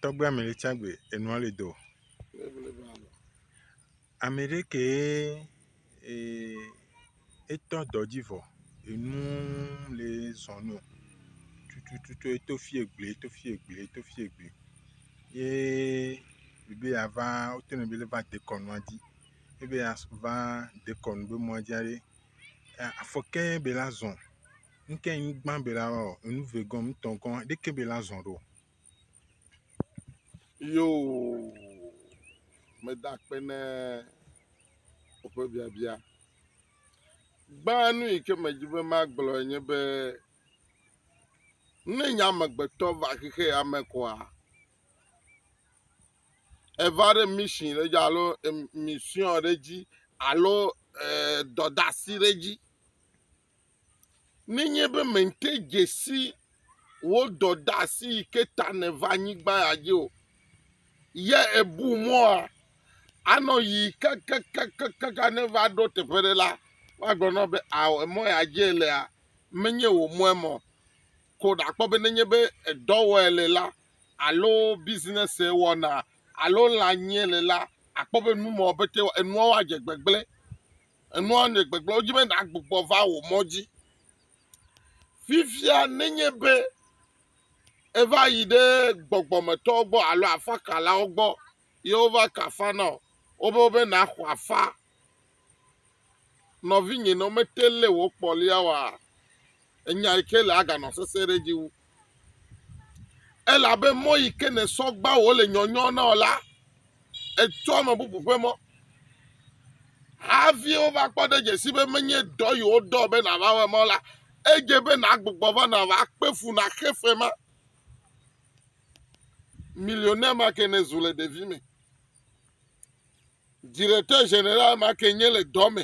Tɔgbe ame ɖe tsa gbe enua le do. Ame ɖe kee etɔ dɔ dzi vɔ enu le zɔ nɛ o tututu eto fia gble eto fia gble eto fia gble ye ebe ya va wote nɔ be va dekɔnua dzi ebe ya va dekɔnu be mɔa dzi aɖe afɔke be la zɔ. ŋke ŋ gbã be la ɔ enu ve gɔn ŋ tɔn gɔn ɖekɛ be la zɔn ɖo. Yo meda akpe ne woƒe biabia. Gbã nu yi ke medzi be magblɔe nye be ne nye amegbetɔ va xexe ya me koa eva ɖe mission ɖe dzi alo em- mission ɖe dzi alo e, dɔdasi ɖe dzi. Nenye be mente dze si wò dɔdeasi yi ke ta nèva anyigba ya dzi o, ye èbu mɔa anɔ ʋi kakakakaka ne eva ɖo teƒe aɖe la, woagblɔ na wò be, Ao, emɔ ya dzi èlea, menye wò mɔ ema o. Ko nàkpɔ be nenye be dɔ wɔm èle la alo bisinɛsi wɔna alo lã nyim èle la, àkpɔ be nu ma wòapetee wɔ, enuawo adze gbegblẽ. Enua le gbegblẽ wo dzi be nàgbugbɔ va wò mɔ dzi. Fifia nenye be eva yi ɖe gbɔgbɔmetɔwo gbɔ alo afakalawo gbɔ ye wova ka afa na wò, wobe be nàxɔ afa, nɔvinye, ne womete ŋu lé wò kpɔlia oa, Enya yi ke le aganɔ sesẽ ɖe edzi wu. Elabe mɔ yi ke nèsɔ gbã wò le nyɔnyɔ na wò la, ètsɔ ame bubu ƒe mɔ. Hafi wova kpɔ ɖe dze sii be menye dɔ yi wodɔ be nàva wɔe ma o la, edze be nàgbugbɔ va nàva kpe fu nàxe fe ma. Millionnaire ma ke nèzu le ɖevime. Directeur général ma ke nye le dɔ me.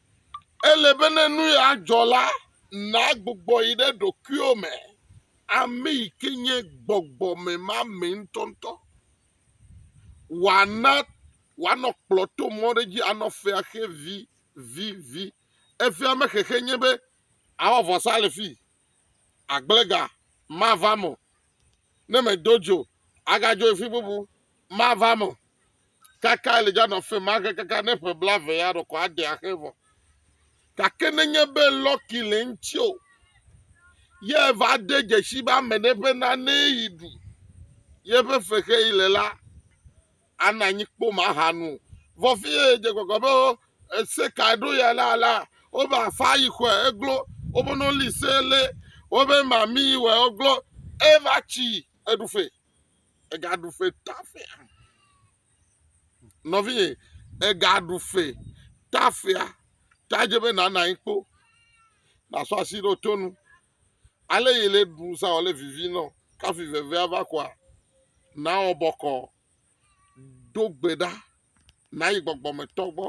Ele be ne nu ya dzɔ la, nàgbugbɔ yi ɖe ɖokuiwò me, ame yi ke nye gbɔgbɔmemame ŋutɔŋutɔ. Wòana wòanɔ kplɔ̃ to mɔ ɖe dzi anɔ fea xe vivivi. Efea me xexe nye be, àwɔ vɔsa le fii, agblega mava eme o, ne medo dzo agadzo yi fi bubu mava eme o. Kaka Elija nɔ afi ma ke kaka ne ƒe blaeve ya ɖɔ ko ade axe vɔ. Gake nenye be lɔki le eŋuti o, ye va de dzesi be ame ɖe ƒe nanee yi ɖu ye ƒe fexeɣi le la, anɔ anyi kpom ahanu. Vɔ fiye dze gbɔgbɔ be wo ese ka ɖo ya la la, wobe afa yi xɔe eglo wobe no li se le wobe mami yi wɔ eglo eva tsi eɖufe ega ɖufe tafea. Nɔvi ye ega ɖufe tafea ta dze be nana anyi kpo. Na sɔ asi ɖo tonu. Ale yi le ɖu sa wòle vivi nɔ kafi vevea va kɔa, nawɔ bɔkɔ, do gbe ɖa, nayi gbɔgbɔmetɔ gbɔ,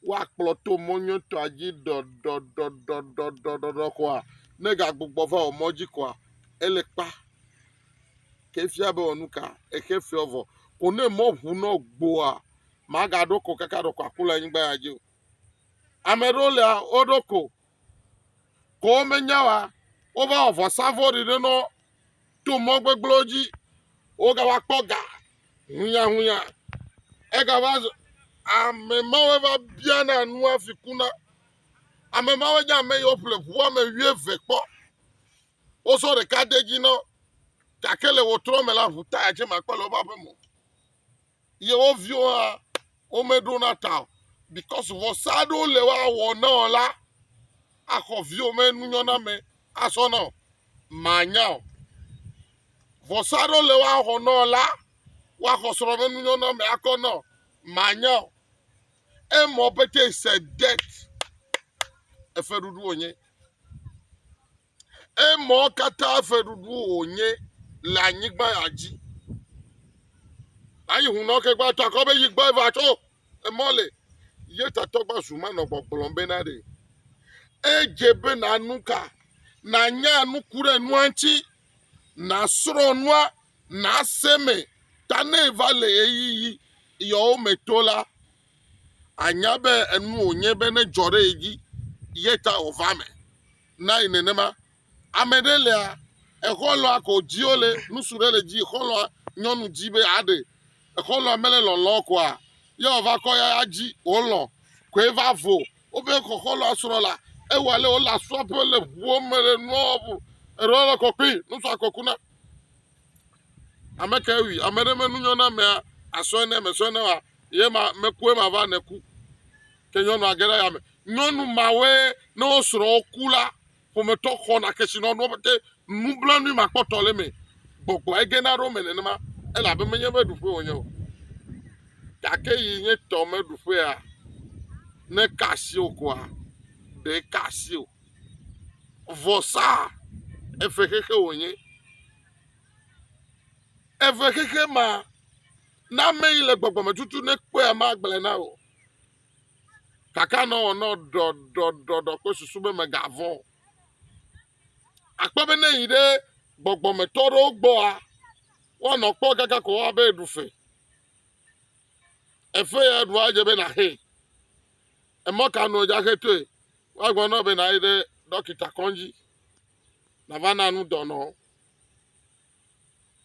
woakplɔ to mɔ nyuitɔa dzi ɖɔɖɔɖɔɖɔɖɔɖɔɖɔ kɔa, ne egagbugbɔ va wò mɔ dzi kɔa, ele kpa. Ke fia be wɔ nu ka? Exe feɔ vɔ. Ko ne mɔ ŋu nɔ gboa, magaɖo ko kaka ɖɔkɔaku le anyigba ya dzi o. Ame ɖewo lea, woɖo ko. ko womenya oa, wova wɔ vɔsa vɔ̃ɖi ɖe nɔ to mɔ gbegblẽwo dzi. Wogava kpɔ ga hunyahunya. Egava zu ame mawo va biana nua fi kuna. Ame mawo nye ame yiwo ƒle ŋu woame wuieve kpɔ. Wosɔ ɖeka de edzi na wo gake le ɣetrɔ me la, ŋu taya tsɛ makpɔ le woƒe aƒeme o. yewo viwo hã womeɖona ta o. Because vɔsa aɖewo le woawɔ na wò la, axɔ viwò me nunyɔname asɔ na wò. Mànya o. Vɔsa aɖewo le woawɔ na wò la, woaxɔ srɔ̃ me nunyɔname akɔ na wò. Mànya o. Emɔ pete is a debt. Efeɖuɖu wònye. Emɔ katã fɛɖuɖu wònye le anyigba ya dzi. Ayi hunɔ ke gba takɔ be yi gbɔ va tso emɔ le. Ye tatɔ gba zu ma nɔ gbɔgblɔm be na ɖe. Edze be na nu ka? Na nya nu ku ɖe nua ŋuti. Na srɔ nua. Na se me. Ta ne va le ye yi yi yɔwo me to la, anya be enu wònye be ne dzɔ ɖe ye dzi ye ta wòva me. nayi nenema. Ame ɖe lea, exɔlɔa ko dziwo le nusu ɖe le dzi exɔlɔa nyɔnu dzi be aɖe. Exɔlɔa mele lɔlɔ koa, ye ɔva kɔ ya ya dzi wolɔ koe va vo. Wobe xɔ xɔlɔa srɔ la, ewa le wo la sua be le ʋuo me le nuɔbu. Eɖewo le kɔkɔe, nusua kɔkuna. Ame kae wui? Ame ɖe me nunyɔnamea asɔe ne mesɔe ne wa ye ma mekue ma va ne ku. Ke nyɔnua ge ɖe ya me. Nyɔnu mawe ne wo srɔ̃wo ku la, ƒometɔ xɔna kesinɔnuwo pɛtɛ. Nublanui makpɔtɔ le eme. Gbɔgbɔe gena ɖe wo me nenema elabe menye be ɖuƒe wònye o. Gake yi nye tɔ meɖuƒea, ne ka asi wò koa, ɖe ka asi o. vɔsa eve xexe wònye. Eve xexe ma, na ame yi le gbɔgbɔme tutu ne kpɔe ma gblẽ na o. Kaka nɔ wɔnɔ ɖɔɖɔɖɔɖɔ kple susu be megavɔ̃. Akpɔ be ne yi ɖe gbɔgbɔmetɔ ɖewo gbɔa, woanɔ kpɔ kaka ko abe ɖu fe. Efe ya ɖua dze be naxee. Emɔ ka nu wòdze axetoe? Woagblɔ na wò be nàyi ɖe ɖɔkita kɔdzi nàva na nu dɔnɔ.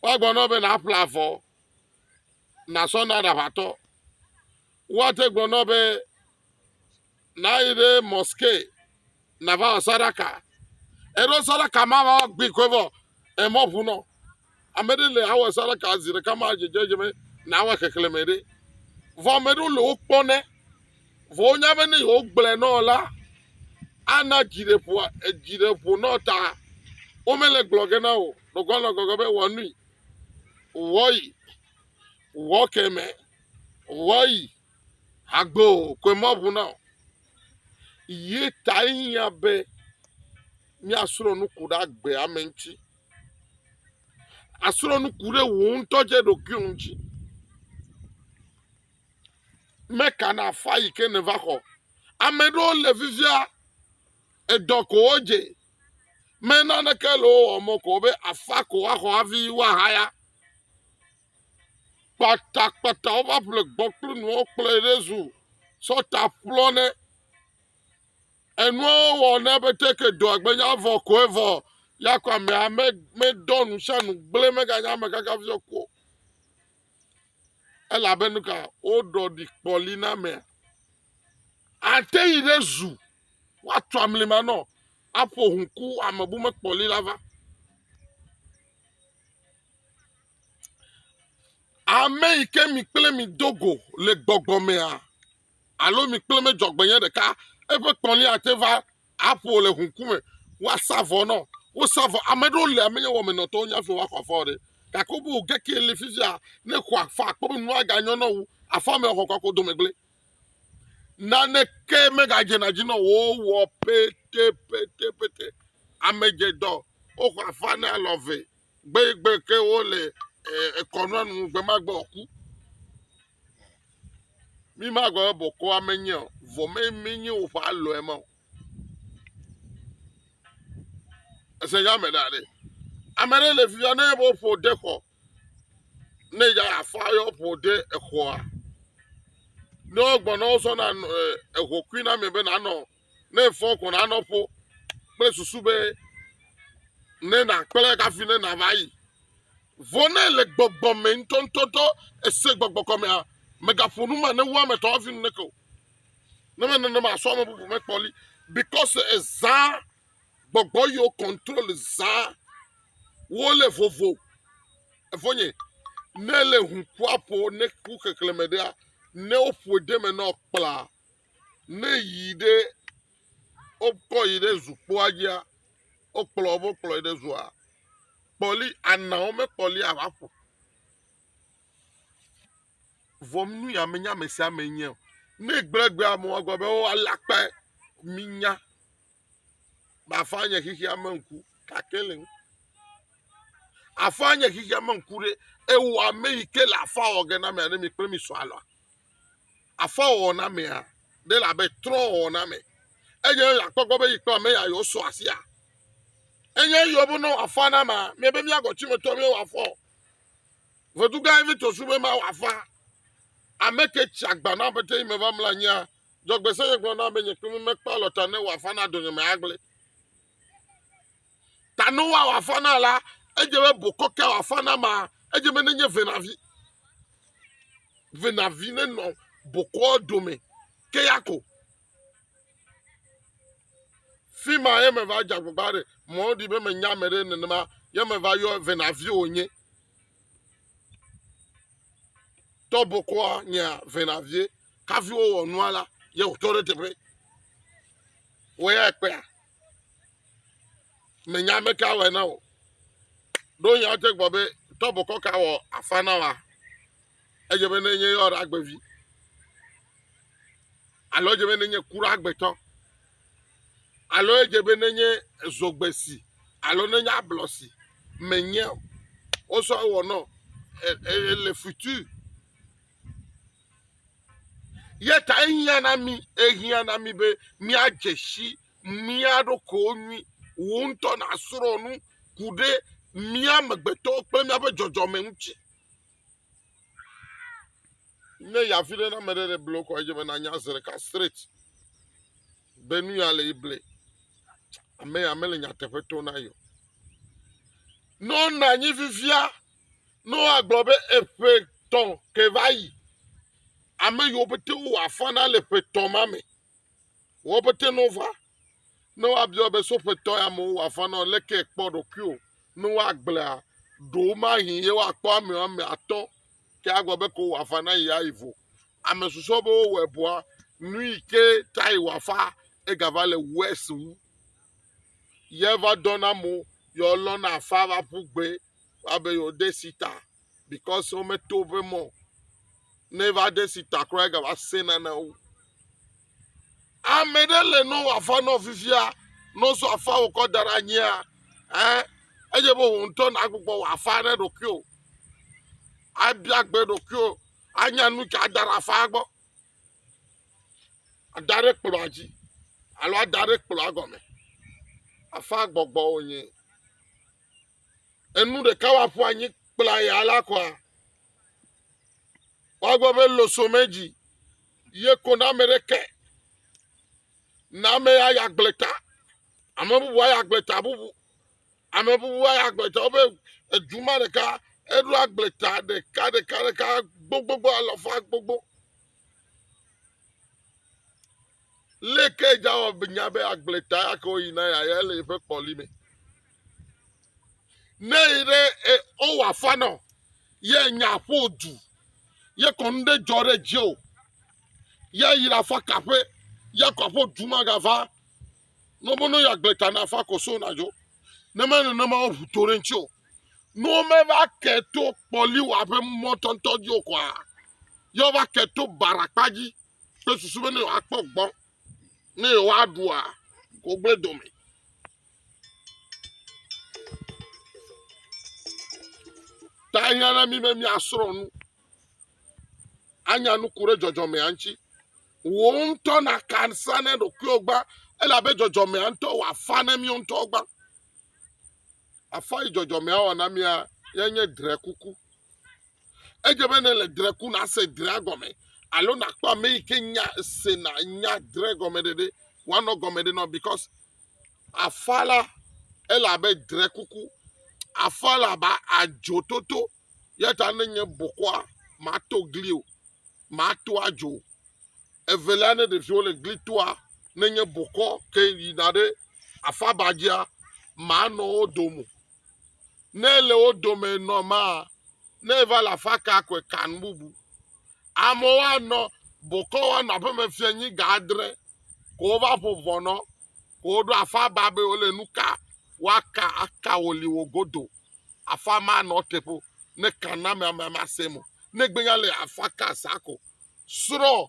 Woagblɔ na wò be nàƒle avɔ nàsɔ na aɖaʋatɔ. Woate gblɔ na wò be nàyi ɖe mɔske na va wɔ saɖaka. Eɖo saɖaka ma va gbi koe vɔ emɔ ʋu nɔ. Ame ɖe le awɔ saɖaka zi ɖeka ma dzedze dze me na awɔ xexleme ɖe. Vɔ ame ɖewo le wokpɔ ne vɔ wonya be ne yewogblɔe nɔ la ana dziɖeƒoa edziɖeƒo nɔ ta womele gblɔ ge na o. Ɖogoa nɔ gɔgɔ be wɔ nui. Wɔyi. Wɔ keme. Wɔyi. Agbe o, koe maʋu na wò. Ye tae hiã be míasrɔ̃ nuku ɖe agbe ame ŋuti. Àsrɔ̃ nuku ɖe wò ŋutɔ dze ɖokuiwò ŋuti. Meka na afa yi ke nèva xɔ. Ame ɖewo le fifia, edɔ ko wodze. Me naneke le wo wɔm o ko be afa ko woaxɔ hafi woahaya. kpatakpata wova ƒle gbɔ kple nuawo kplɔe ɖe zu tsɔ ta ƒlɔ nɛ enuawo wɔ nɛ be teke dɔa gbenya vɔ koe vɔ ya ko amea medɔ nu sia nu gblẽ meganya ame kaka fi sɔ ko elabe nu ka woɖɔ ɖi kpɔli na amea ate yi ɖe zu woatu amlima nɔ aƒo ŋku amebu mekpɔli la va Ame yi ke mi kple mi do go le gbɔgbɔ mea alo mi kple medzɔgbenyui ɖeka eƒe kpɔlia ate va aƒo le ŋu ŋkume woasa vɔ na wo. Wosa vɔ. Ame aɖewo li menye wɔmenɔtɔwo wonye hafi woaxɔ afɔ o ɖe gake wobe wo ge kee li fifia ne xɔa afɔ akpɔ be nua ganyɔ na wo afɔ me axɔ kɔ do megble. Naneke megadzena dzi na wo o wowɔ petepetepete. Ame dze dɔ woxɔ afɔ ne alɔ vɛ Gbe yi gbe ke wole ekɔnua nu gbe ma gbe ɔku. Mi ma gbe bɔkɔ ame nye o, vɔ me mi nye woƒe alɔ ema o. Ese ya me da ɖe. Ame ɖe le fia ne wo ƒo de xɔ. Ne ya afa yɔ ƒo de exɔa. Ne wo gbɔ ne wo sɔ na ehokui na me be na nɔ ne efɔ kɔ na nɔ ƒo kple susu be ne na kple kafi ne na va yi vɔ ne le gbɔgbɔ me ŋutɔŋutɔtɔ ese gbɔgbɔ kɔmea megaƒo nu ma ne wu ame tɔ hafi nu neke o ne me nene ma sɔ ame bubu me kpɔli because ezã gbɔgbɔ yiwo control zã wole vovo efonye ne le ŋu ƒoaƒo ne ku xexleme ɖea ne woƒoe ɖe me nɔ kpla Ne yi ɖe wokɔ yi ɖe zukpoa dzia, wokplɔ wokplɔe ɖe zua, kpɔli anawo mekpɔli ava ƒo. Vɔ nu ya menye ame sia ame nye o. Ne egblẽ egbea me wɔ gbe be wo alé akpe minya bafa nye xexea me ŋku gake le ŋu. Afa nye xexea me ŋku ɖe ewɔ ame yi ke le afa wɔ ge na mia ne mi kple mi sɔ alɔa. afɔwɔwɔ na amea ɖe le abe trɔ̃wɔwɔ na ame eye akpɔ egbɔ be yi kple ame ya yewosɔ asia. Enye eyiwo be ne wòafa na amea, míebe míagɔ Timoteo be wòafɔ. Vedu gã aɖe tso su be ma wòafa. Ame ke tsi agba na aƒetɔ yi me va mlɔ anyia, dzɔgbese nye gblɔ na be nye kple mi mekpe alɔta ne wòafa na dɔnyemea agblẽ. Ta ne woawɔ afã na la, edze be bokɔ ke wɔ afã na ma. Edze be nenye venavi, venavi nenɔ bokɔa dome ke ya ko. Fi ma ye meva dze agbagba ɖe mɔ ɖi be menya ame ɖe nenema ye meva yɔ venavi wònye. Tɔ bokɔa nyea venavie kafi wowɔ nua la ye wòtɔ ɖe teƒe. Wòyae kpea. menya ame ka wɔe na wò. Ɖo nya wote gbɔ be tɔbokɔ ka wɔ afa na wa. Edze be nenye yɔ ɖe agbevi. Alo edze be nenye ku ɖe agbetɔ. Alo edze be nenye zogbe si alo nenye ablɔ si menye o. Wosɔ wɔ nɔ e, e, e le futur. Ye ta ehiã na mí, ehiã na mí be míadze si mía ɖokuiwo nyui. Wò ŋutɔ nàsrɔ̃ nu ku ɖe mía amegbetɔwo kple míaƒe dzɔdzɔme ŋuti. Ne yi afi ɖe na ame ɖe ɖe ble wokɔ edze be nanya zi ɖeka straight be nu ya le yi ble. Ame ya mele nyateƒe to na yi o. Ne wonɔ anyi fifia Noa gblɔ be eƒe tɔ ke va yi. Ame yiwo pete wo afɔ na le ƒe tɔ ma me. Wo pete no va. Noa biɔ be so ƒe tɔ ya me wo afɔ na le ke kpɔ ɖokui o. Noa gblea ɖo ma hi ye wo akpɔ ame ame atɔ ke agblɔ be ko wo afɔ na yi ayi vo. Ame susu be wo wɔ eboa nu yi ke ta yi wo afa ega va le wes wu. Ye va dɔ na mo yɔ lɔ na afa va ƒu gbe. Woabe yewoɖe si ta because wometo woƒe mɔ o. Ne eva ɖe si ta kura egava se nane wo. Ame ɖe le nɔ wòafa nɔ fifia, nɔ sɔ afa wòkɔ da ɖe anyia, eh, edze be wò ŋutɔ nàgbugbɔ wòafa ɖe ɖokuiwò. Abia gbe ɖokuiwò, anya nu ka ada ɖe afaa gbɔ. Ada ɖe kplɔ̃a dzi alo ada ɖe kplɔ̃a gɔme. Afaa gbɔgbɔ wònye. enu ɖeka woaƒu anyi kpla ya la kɔa woagbe be losome dzi ye ko na ame ɖeke na ame ya ya gblẽ ta ame bubu ya gblẽ ta bubu ame bubu ya gblẽ ta wobe edu ma ɖeka eɖo agblẽ ta ɖeka ɖeka ɖeka gbogbogbò alɔfa gbogbo Leke Jawa nya be agbletaa ya ke woyina ya ya le eƒe kpɔli me? Ne yi ɖe e- wowɔ afa nɔ ye nya ƒo du ye kɔnu ɖe dzɔ ɖe dzi o ya yi ɖe afa kaƒe ya kɔ aƒo du magava ne wobe ne yeagbleta na afa koso na dzo ne me nenema woʋu to ɖe ŋuti o ne womeva ke to kpɔli wɔ aƒe mɔtɔntɔ dzi o kɔa ye wova ke to baɖakpa dzi kple susu be ne yewoakpɔ gbɔ ne yewoaɖua kogble dome. Ta ehiã na mí be míasrɔ̃ nu anya nuku ɖe dzɔdzɔmea ŋuti. Wò ŋutɔ nàka sa ne ɖokuiwò gbã elabe dzɔdzɔmea ŋutɔ wòafa ne míwo ŋutɔ gbã. Afɔ yi dzɔdzɔmea wɔ na mía yanye drekuku. Edze be ne le dre ku nase drea gɔme alo nakpɔ ame yi ke nya sena nya dre gɔme ɖeɖe woanɔ gɔme ɖe nɔ because afa la ele abe dre kuku afa la ba adzo toto yata ne nye bokɔa mato gli o mato adzo evelia ne ɖeviwo le gli toa ne nye bokɔ ke yina ɖe afabadzia manɔ wo domo ne le wo dome nɔ maa, ne eva le afa ka koe kan bubu. Amewo anɔ bokɔ woanɔ aƒeme fia nyi ga adre, ko wova ƒo vɔ nɔ, ko woɖo afa ba be wole nu ka woaka aka wo li wo godo. Afa ma nɔ teƒe ne kan na ame ame ame asem o. Ne gbenya le afa ka sa ko. Srɔ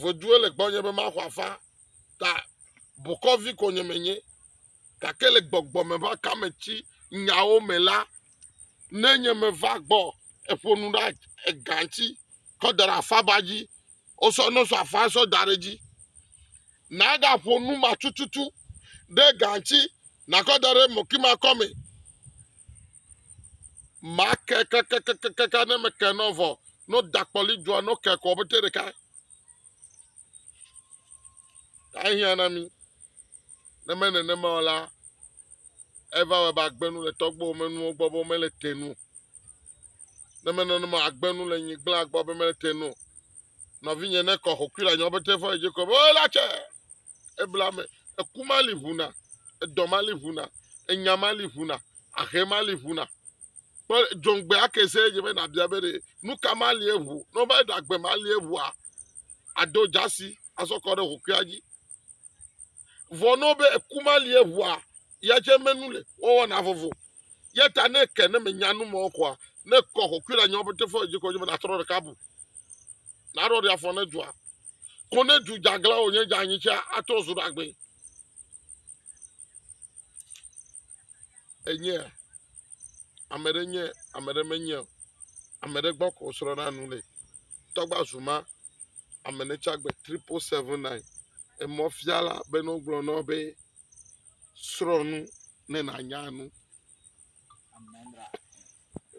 Ʋɔdue le gbɔnye be maxɔ afa, ta bokɔvi konye menye, gake le gbɔgbɔ me ƒe akameti nyawo me la, ne nye meva gbɔ eƒo nu ɖa ega ŋuti kɔ da ɖe afaba dzi, wosɔ nɔsɔ afa sɔ da ɖe edzi, naɖaƒo nu ma tututu ɖe ega ŋuti Nakɔ da ɖe mɔkimakɔ me. Make kakakakaka ne meke nɔ vɔ no dakpɔli dzua no ke kɔ bete ɖeka. Ahia na mi. Ne me nenema o la, eva wɔ be agbenu le tɔgbuiwo me nuwo gbɔ be mele te nu. Ne me nenema agbenu le nyigblaa gbɔ be mele te nu. Nɔvinye ne kɔ hokui la nyɔ bete fɔ edzi ko be o la tse. ebla me, eku ma li ʋu na, edɔ ma li ʋu na, enya ma li ʋu na, ahe ma li ʋu na. Kpɔ dzɔŋgbe ake se dze be nabia be ɖe nu ka ma li eʋu. Ne wova ɖe agbe ma li eʋua, ado dzasi azɔ kɔ ɖe ʋukua dzi. Vɔ ne be eku ma li eʋua, ya dze menu le wɔwɔna vovo. Ya ta ne ke ne menya nu mɔ kɔa, ne kɔ ʋukui le anyi wɔbete fɔ dzi kɔ dzi be natrɔ ɖeka bu. Naɖɔ ɖe afɔ ne dzɔa. ko ne du dzeaglã wònye dzeanyi tsɛ atrɔ zu ɖagbee. Enye ame ɖe nye ame ɖe menye o. Ame ɖe gbɔ ko srɔ̃na nu le. Tɔgba zuma ame ne tsagbe triple seven nine. Emɔfiala be ne wogblɔ na wo be srɔ̃ nu ne nànya nu.